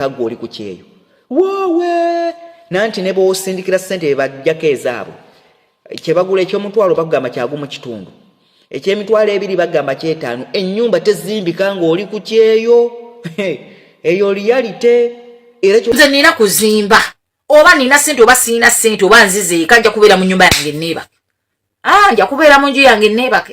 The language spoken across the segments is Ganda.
kagwe oli ku kyeyo woowe nanti ne bwosindikira ssente bebajjako ezaabwe kyebagula ekyomutwalo bagamba kyagu mu kitundu ekyemitwalo ebiri bagamba kyetaano ennyumba tezimbika ng'oli ku kyeyo eyo liyalite era nze nina kuzimba oba nina sente oba siina sente oba nzizeeka nja kubeera mu nyumba yange neebake ah, nja kubeera mu nju yange neebake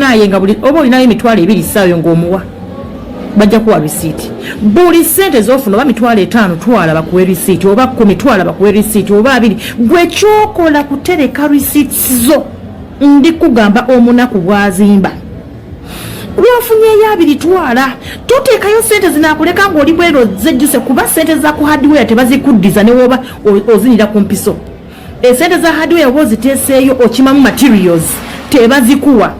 naye nga buli oba olinayo emitwalo ebiri saayo ng'omuwa bajja kuwa risiiti buli sente zofuna oba mitwalo etaano twala bakuwe risiiti oba ku mitwalo bakuwe risiiti oba abiri gwe kyokola kutereka risiiti zo ndi kugamba omunaku bwazimba lwofunyeyo abiri twala toteekayo sente zinakuleka ngaoli bwero zejjuse kuba sente za ku hardware tebazikuddiza newoba ozinira ku mpiso esente za hardware oba oziteeseeyo okimamu materials tebazikuwa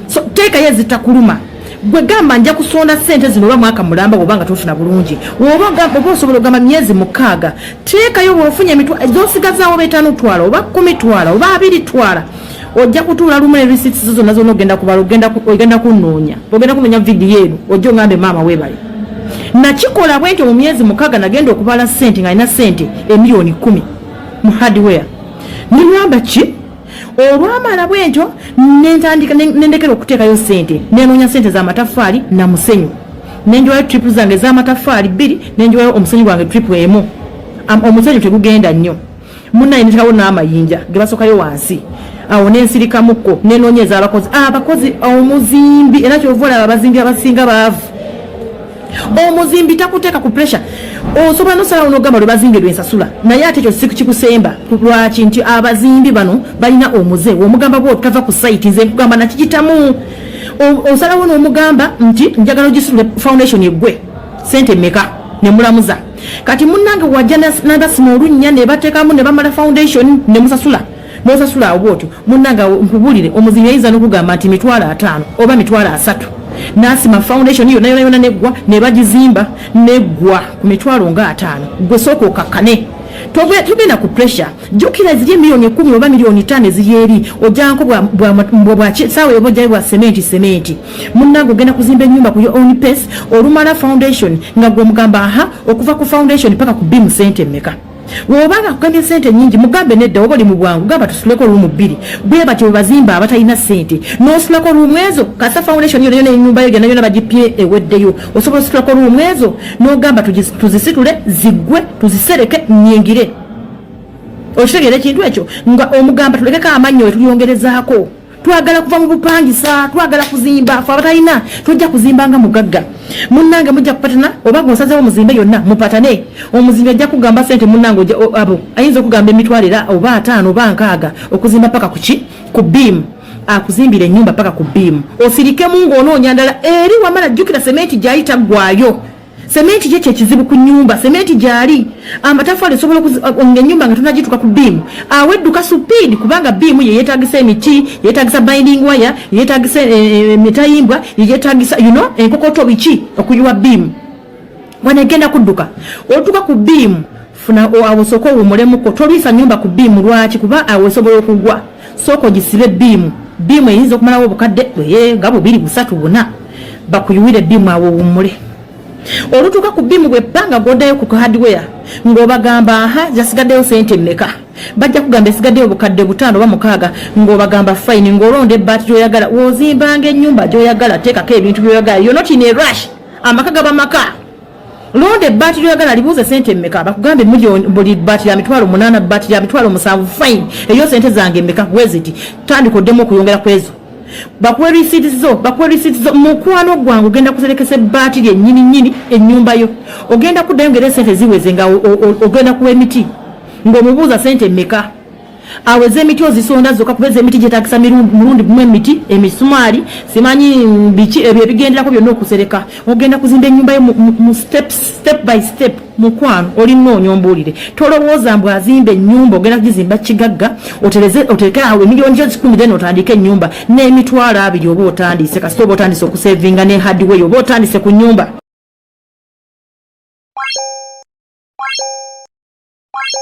so teekayo ezitakuluma gwe gamba nja kusonda sente zino oba mwaka mulamba bwoba nga tofuna bulungi oba oba osobola ogamba myezi mukaaga teekayo bwofunye emitwa zosigazaawo betaano twala oba kumi twala oba abiri twala ojja kutuula lumu ne receipts zo zonna zonna ogenda kubala ogenda kunoonya ogenda kunoonya vidiyo eno ojja ongambe maama webale nakikola bwentyo mu myezi mukaaga nagenda okubala sente nga alina sente emiliyoni kumi mu hardware nilwamba ki olwamala bwentyo nentandika nendekera okuteekayo sente nenoonya sente za mataffaali na musenyu nenjiwayo tripu zange ezamataffaali bbiri nenjiwayo omusenyu gwange tripu emu omusenyu tegugenda nnyo munaye nitekawo n'amayinja gebasokayo wansi awo nensirikamuko nenoonya ez'abakozi abakozi omuzimbi era kyova olaba abazimbi abasinga baavu omuzimbi takuteeka ku pressure osobola nosalawo nogamba lwe bazimbye lwensasula naye ate ekyo sikikusemba lwaki nti abazimbi bano balina omuze womugamba bwo tava ku site nze nkugamba nakikitamu osalawo nomugamba nti njagala ogisule foundation egwe sente meka nemulamuza kati munange wajja nabasima olunnya nebatekamu nebamala foundation nemusasula nosasula awo bwotyo munange nkubulire omuzimu yayinza nokugamba nti mitwalo ataano oba mitwalo asatu nasima foundation yona yona yona neggwa nebagizimba neggwa ku mitwalo nga ataano gwe sooka okakkane togenda ku pressure jukira eziri emiliyoni ekumi oba miliyoni tano eziri eri ojanko bwasaawa ebojayo bwa sementi sementi munange ogenda kuzimba enyumba ku your own pace olumala foundation nga gwomugamba aha okuva ku foundation paka ku bimu sente emeka wobanga kugamya sente nyingi mugambe nedda oba oli mu bwangu gamba tusuleko rumu bbiri bwe batyo bebazimba abatalina sente nosulako rumu ezo kasa foundation yona yona enyumba yo gyona yona bagipye eweddeyo osobola osulako rumu ezo nogamba tuzisitule zigwe tuzisereke nyingire okitegera ekintu ekyo nga omugamba tulekeko amannyo wetuyongerezaako twagala kuva mu bupangisa twagala kuzimba fe abatalina tojja kuzimba nga mugagga munnange mujja kupatana oba gwosazewo muzimbe yonna mupatane omuzimbi ajja kugamba sente munnange abo ayinza okugamba emitwalo era oba ataano oba nkaaga okuzimba paka kuki ku biimu akuzimbira enyumba paka ku biimu osirikemu ngaonoonya ndala eri wamala jjukira sementi gyayita ggwayo Sementi kye kyekizibu ku nyumba, sementi gyali amatafali osobola nga enyumba nga tonagituka ku biimu awo edduka supiidi kubanga biimu yeyetagisa emiti, yetagisa binding waya, yetagisa eh, eh, emitayimbwa, yeyetagisa you know, enkokoto biki okuyiwa biimu wanegenda kudduka otuka ku biimu funa awo sooka owumulemuko toliisa nyumba ku biimu lwaki kuba awo esobola okugwa sooka ogisibe biimu biimu eyinza okumalawo obukadde ee nga bubiri busatu buna bakuyuwire biimu awo owummule olutuuka ku biimu bwe panga godayo ku hardware ng'obagamba aha zasigaddeyo sente mmeka bajja kugamba esigaddeyo obukadde butaano oba mukaaga ng'obagamba fayini ng'olonda ebbaati gy'oyagala wozimbanga ennyumba gy'oyagala teekako ebintu by'oyagala yonotine rush amaka gaba maka londa ebbaati lyoyagala libuuze sente mmeka bakugambe buli bbaati lya mitwalo munaana bbaati lya mitwalo musanvu fine eyo sente zange mmeka weziti tandika oddemu okuyongera ku ezo bakuwe risiiti zo bakuwe risiiti zo mukwano gwange ogenda kuserekesa ebbaati lyennyini nnyini ennyumba yo ogenda kuddayo ngaera esente ziweze nga ogenda kuwa emiti ng'omubuuza sente mmeka awo ezemiti ozisonda zoka kuba ezemiti gyetagisa mulundi gumu emiti emisumaali simanyi biki ebyo ebigenderako byonna okusereka ogenda kuzimba enyumba yo mu step step by step mukwano olina onyombuulire tolowooza mbu azimba enyumba ogenda kugizimba kigagga otereke awo emiliyoni gyo kikumi then otandike enyumba n'emitwalo abiri oba otandise kasita oba otandise okusevinga ne hardway oba otandise ku nyumba Thank you.